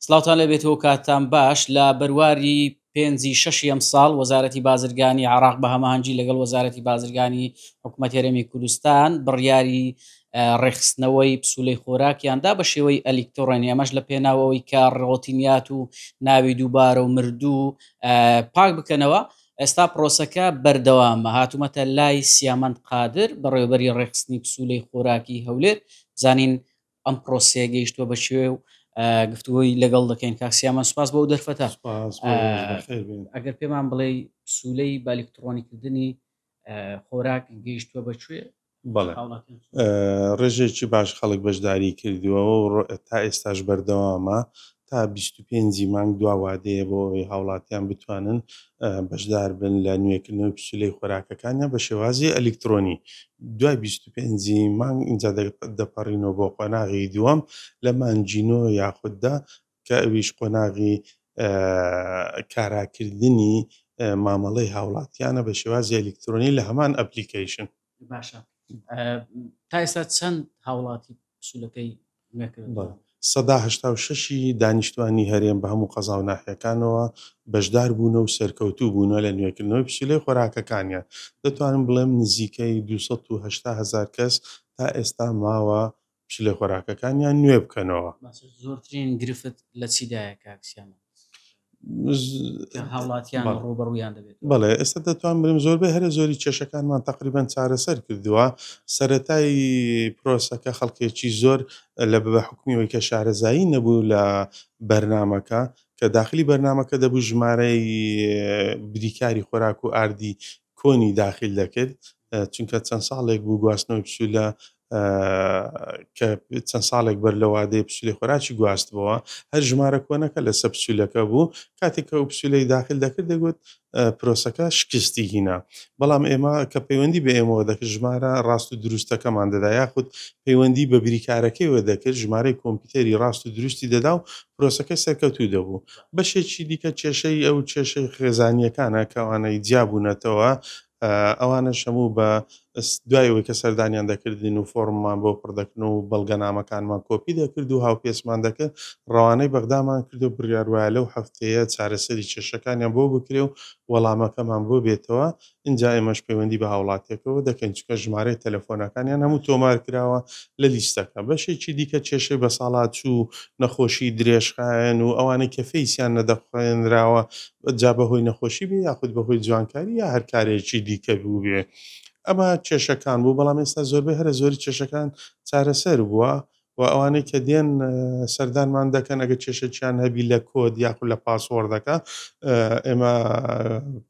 سڵاوتان لێ بێت و کاتتان باش، لە بەرواری پێنجی شەشی ئەمساڵ وەزارەتی بازرگانی عێراق بە هەماهەنگی لەگەڵ وەزارەتی بازرگانی حکومەت هەرێمی کوردستان بڕیاری ڕێکخستنەوەی پسولەی خۆراکیان دا بە شێوەی ئەلیکتڕۆنی ئەمەش لە پێناو ئەوەی کە ڕۆتینیات و ناوی دووبارە و مردوو پاک بکەنەوە ئێستا پرۆسەکە بەردەوامە هاتوومەتە لای سیامەند قادر بەڕێوبەری ڕێکخستنی پسولەی خۆراکی هەولێر زانین ئەم پرۆسەیە گەیشتووە بە شوێ و گفتوگۆی لەگەڵ دەکەین کاک سیامە سوپاس بۆ ئەو دەرفەتە سوپاس بۆ ئێوەش، بەخێر بێن. ئەگەر پێمان بڵێی پسوولەی بالکتڕۆنیکردنی خۆراک گەیشتووە بە کوێ؟ بەڵێ. هاوڵاتیان سوپاس. ڕێژەیەکی باش خەڵک بەشداریی کردووە و تا ئێستاش بەردەوامە. تا بیست و پێنج ی مانگ دوا وادەیە بۆ ئەوەی هاوڵاتیان بتوانن بەشدار بن لە نوێکردنەوەی پسولەی خۆراکەکانیان بە شێوازی ئەلیکترۆنی دوای بیست و پێنج ی مانگ ئینجا دەپەڕینەوە بۆ قۆناغی دووەم لە مانگی نۆ یاخود دە کە ئەویش قۆناغی کاراکردنی مامەڵەی هاوڵاتیانە بە شێوازی ئەلیکترۆنی لە هەمان ئەپلیکەیشن. باشە تا ئێستا چەند هاوڵاتی پسولەکەی سەدا هشتا و شەشی دانیشتوانی هەرێم بە هەموو قەزا و ناحیەکانەوە بەشدار بوونە و سەرکەوتوو بوونە لە نوێکردنەوەی پسولەی خۆراکەکانیان دەتوانم بڵێم نزیکەی 2 هزار کەس تا ئێستا ماوە پشیلە خۆراکەکانیان نوێ بکەنەوە. باشە زۆرترین گرفت لە چیدایە کاک سیامەند؟ کە هاوڵاتیان ڕووبەڕوویان دەبێت. بەڵێ ئێستا دەتوانم بڵێم زۆربەی هەرە زۆری کێشەکانمان تەقریبەن چارەسەر کردووە، سەرەتای پرۆسەکە خەڵکێکی زۆر لە بە حوکمی ئەوەی کە شارەزایی نەبوو لە بەرنامەکە، کە داخلی بەرنامەکە دەبوو ژمارەی بریکاری خۆراک و ئاردی کۆنی داخیل دەکرد چونکە چەند ساڵێک بوو گواستنەوەی پسولە کە چەند ساڵێک بەر لەوە دەیە پسولی خۆراکی گواستبەوە هەر ژمارە کۆنەکە لەسەر پسولەکە بوو کاتێک کە ئەو پسولەی داخل دەکرد دەگوت پرۆسەکە شکستی هینا بەڵام ئێمە کە پەیوەندی بە ئێمەوە دەکرد ژمارە ڕاست و دروستەکەمان دەدا یاخود پەیوەندی بە بریکارەکەیوە دەکرد ژمارەی کۆمپیوتەری ڕاست و دروستی دەدا و پرۆسەکەی سەرکەوتوو دەبوو بەشێکی دیکە کێشەی ئەو کێشەی خێزانییەکانە کە ئەوانەی جیا بوونەتەوە ئەوانەش هەموو بە دوای ئەوەی کە سەردانیان دەکردین و فۆرممان بۆ پڕ دەکردن و بەڵگەنامەکانمان کۆپی دەکرد و هاوپێچمان دەکرد ڕەوانەی بەغدامان کرد و بڕیار وایە لەو هەفتەیە چارەسەری کێشەکانیان بۆ بکرێ و وەڵامەکەمان بۆ بێتەوە ئینجا ئێمەش پەیوەندی بە هاوڵاتیەکەوە دەکەین چونکە ژمارەی تەلەفۆنەکانیان هەموو تۆمار کراوە لە لیستەکە. بەشێکی دیکە کێشەی بەساڵاچوو، نەخۆشی درێژخایەن و ئەوانەی کە فەیسیان نەدەخوێنراوە جا بەهۆی نەخۆشی بێ یاخود بەهۆی جوانکاری یا هەر کارێکی دیکە بووبێ ئەمە کێشەکان بوو بەڵام ئێستا زۆربەی هەرە زۆری کێشەکان چارەسەر بووە وە ئەوانەی کە دێن سەردانمان دەکەن ئەگەر کێشەکیان هەبی لە کۆد یاخود لە پاسۆڕدەکە ئێمە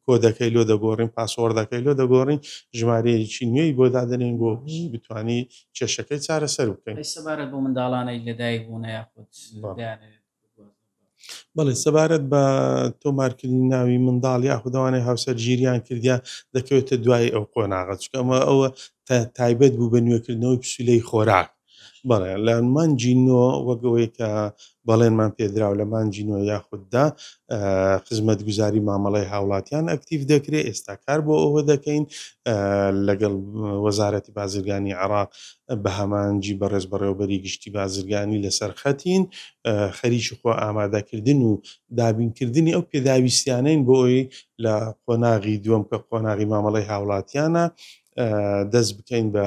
کۆدەکەی لۆ دەگۆڕین پاسۆڕدەکەی لۆ دەگۆڕین ژمارەیەکی نوێی بۆ دادەنێین بۆ بتوانی کێشەکەی چارەسەر بکەین. ئەی سەبارەت بەو منداڵانەی لەدایک بوونە یاخود دەیانەوێت بەڵێ، سەبارەت بە تۆمارکردنی ناوی منداڵ یاخود ئەوانەی هاوسەرگیریان کردیە دەکەوێتە دوای ئەو قۆناغە چونکە ئەمە ئەوە تایبەت بوو بە نوێکردنەوەی پسولەی خۆراک بەڵێ لە مانجی نۆ وەک ئەوەی کە بەڵێنمان پێدراو لە مانجی نۆ یاخوددا خزمەت گوزاری مامەڵی هاوڵاتیان ئەکتیف دەکرێت ئێستا کار بۆ ئەوە دەکەین لەگەڵ وەزارەتی بازرگانی عراق بەهمانجی بەڕێز بەڕێوەبەری گشتی بازرگانی لەسەر خەتین، خەریکی خۆ ئامادەکردن و دابینکردنی ئەو پێداویستیانەین بۆ ئەوەی لە قۆناغی دووەم کە قۆناغی مامەڵەی هاوڵاتیانە دەست بکەین بە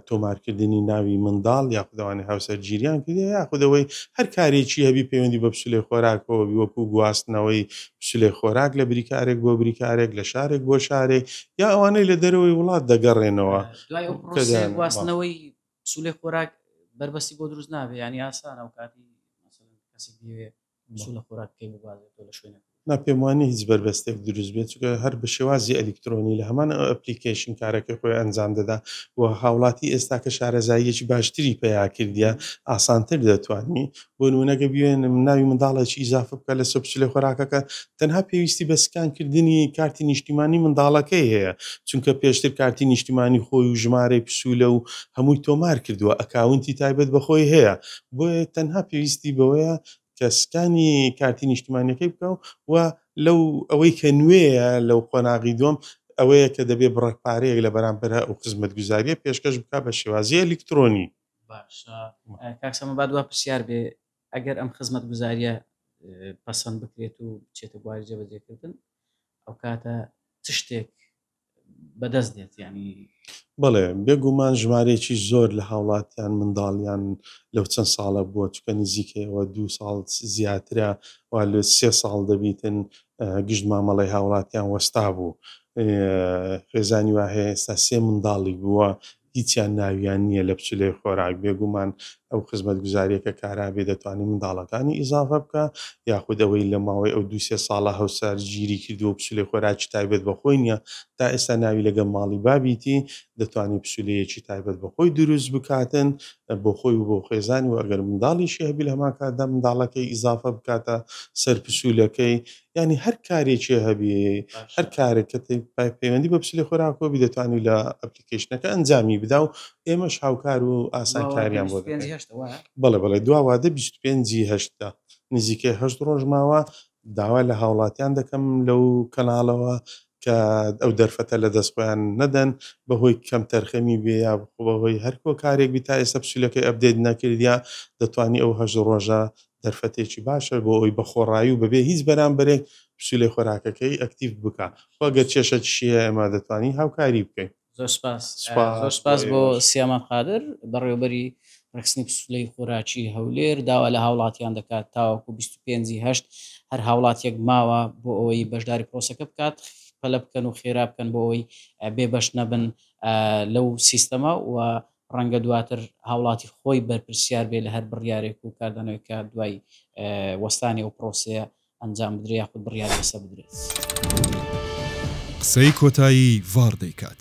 تۆمارکردنی ناوی منداڵ یاخود ئەوانەی هاوسەرگیریان کردووە یاخود ئەوەی هەر کارێکی هەبی پەیوەندی بە پسولەی خۆراکەوە بی وەکو گواستنەوەی پسولەی خۆراک لە بریکارێک بۆ بریکارێک لە شارێک بۆ شارێک یا ئەوانەی لە دەرەوەی وڵات دەگەڕێنەوە. دوای ئەو پرۆسەیە گواستنەوەی سولێ خۆراک بەربەستی بۆ دروست نابێ ینی ئاسان ئەو کاتی کەسی بێ سولە خۆراک پێ بگوازێت لە شوێنە نا پێم وانی هیچ بەربەستێک دروست بێت چکە هەر بە شێوازی ئەلیکترۆنی لە هەمان ئەپلیکیشن کارەکە خۆی ئەنجام دەدا و هاوڵاتی ئێستا کە شارەزاییەکی باشتری پیا کردە ئاسانتر دەتوانانی بۆ نموونە گەر بیەوێ ناوی منداڵێکی ئیزافە بکە لە سەر پچلە خۆراکەکە تەنها پێویستی بە سکان کردنی کارتی نیشتیمانی منداڵەکەی هەیە چونکە پێشتر کارتی نیشتیمانی خۆی و ژمارەی پسولە و هەمووی تۆمار کردووە ئەکاونتی تایبەت بە خۆی هەیە بۆیە تەنها پێویستی بەوەیە کە سکانی کارتی نیشتیمانیەکەی بکە و لەو ئەوەی کە نوێیە لەو قۆناغی دووەم ئەوەیە کە دەبێ بڕەک پارەیەک لە بەرامبەر ئەو خزمەتگوزاریە پێشکەش بکا بە شێوازی ئەلیکترۆنی. باشە کاک سامان با دوا پرسیار بێ ئەگەر ئەم خزمەت گوزاریە پەسەند بکرێت و بچێتە بواری جێبەجێ کردن ئەوکاتە چ شتێک بەدەست دێت یانی بەڵێ بێگومان ژمارەیەکی زۆر لە هاوڵاتیان منداڵیان لەو چەند ساڵە بووە چکە نزیکەوە دو ساڵ زیاترە و لە سێ ساڵ دەبیتن گشت مامەڵی هاوڵاتیان وەستا بوو خێزانی واهەیە ئێستا سێ منداڵی بووە هیچیان ناویان نییە لە پچلەی خۆراک، بێگومان ئەو خزمەتگوزارییە کە کارابێ دەتوانێ منداڵەکانی ئیزافە بکا، یاخود ئەوەی لە ماوەی ئەو دوو سێ ساڵە هەوسار گیری کردووە و پچلەی خۆراکی تایبەت بە خۆی نییە، تا ئێستا ناوی لەگەڵ ماڵی بابیتی، دەتوانێ پچلەیەکی تایبەت بە خۆی دروست بکاتن بۆ خۆی و بۆ خێزانی و ئەگەر منداڵیشی هەبی لە هەمان کاتدا منداڵەکەی ئیزافە بکاتە سەر پچولەکەی، یانی هەر کارێکێ هەبی هەر کارێک کە پەیوەندی بە پچلەی خۆراکەوە بی دەتوانی لە. ئەپلیکەیشنەکە ئەنجامی بدا و ئێمەش هاوکار و ئاسانکاریان بۆ دەکەین. دواوادەی بیست و پێنج هەشت وایە؟ بەڵێ بەڵێ دواوادەی بیست و پێنج ی هەشتە نزیکەی هەشت ڕۆژ ماوە داوا لە هاوڵاتیان دەکەم لەو کەناڵەوە کە ئەو دەرفەتە لە دەست خۆیان نەدەن بە هۆی کەم تەرخەمی بێ یا بە هۆی هەر هۆکارێک بی تا ئێستا پسیلەکەی ئەپدەیت نەکردیە دەتوانی ئەو هەشت ڕۆژە دەرفەتێکی باشە بۆ ئەوەی بە خۆڕایی و بەبێ هیچ بەرامبەرێک پسوولەی خۆراکەکەی ئەکتیڤ بکا خۆ گەر کێشەکیشی هەیە ئێمە دەتوانین هاوکاری بکەین. زۆر سپاس زۆر سپاس بۆ سیامان قادر بەڕێوەبەری ڕێکخستنی پسوولەی خۆراکی هەولێر داوا لە هاوڵاتیان دەکات تاوەکو بیست و پێنج ی هەشت هەر هاوڵاتیەک ماوە بۆ ئەوەی بەشداری پڕۆسەکە بکات پەلە بکەن و خێرا بکەن بۆ ئەوەی بێ بەش نەبن لەو سیستەمە و ڕەنگە دواتر هاوڵاتی خۆی بەرپرسیار بێ لە هەر بڕیارێک و کاردانەوەیەک کە دوای وەستانی ئەو پرۆسەیە ئەنجام بدرێ یاخود بڕیار لەسە بدرێت. قسەی کۆتایی ڤاڕ دەیکات.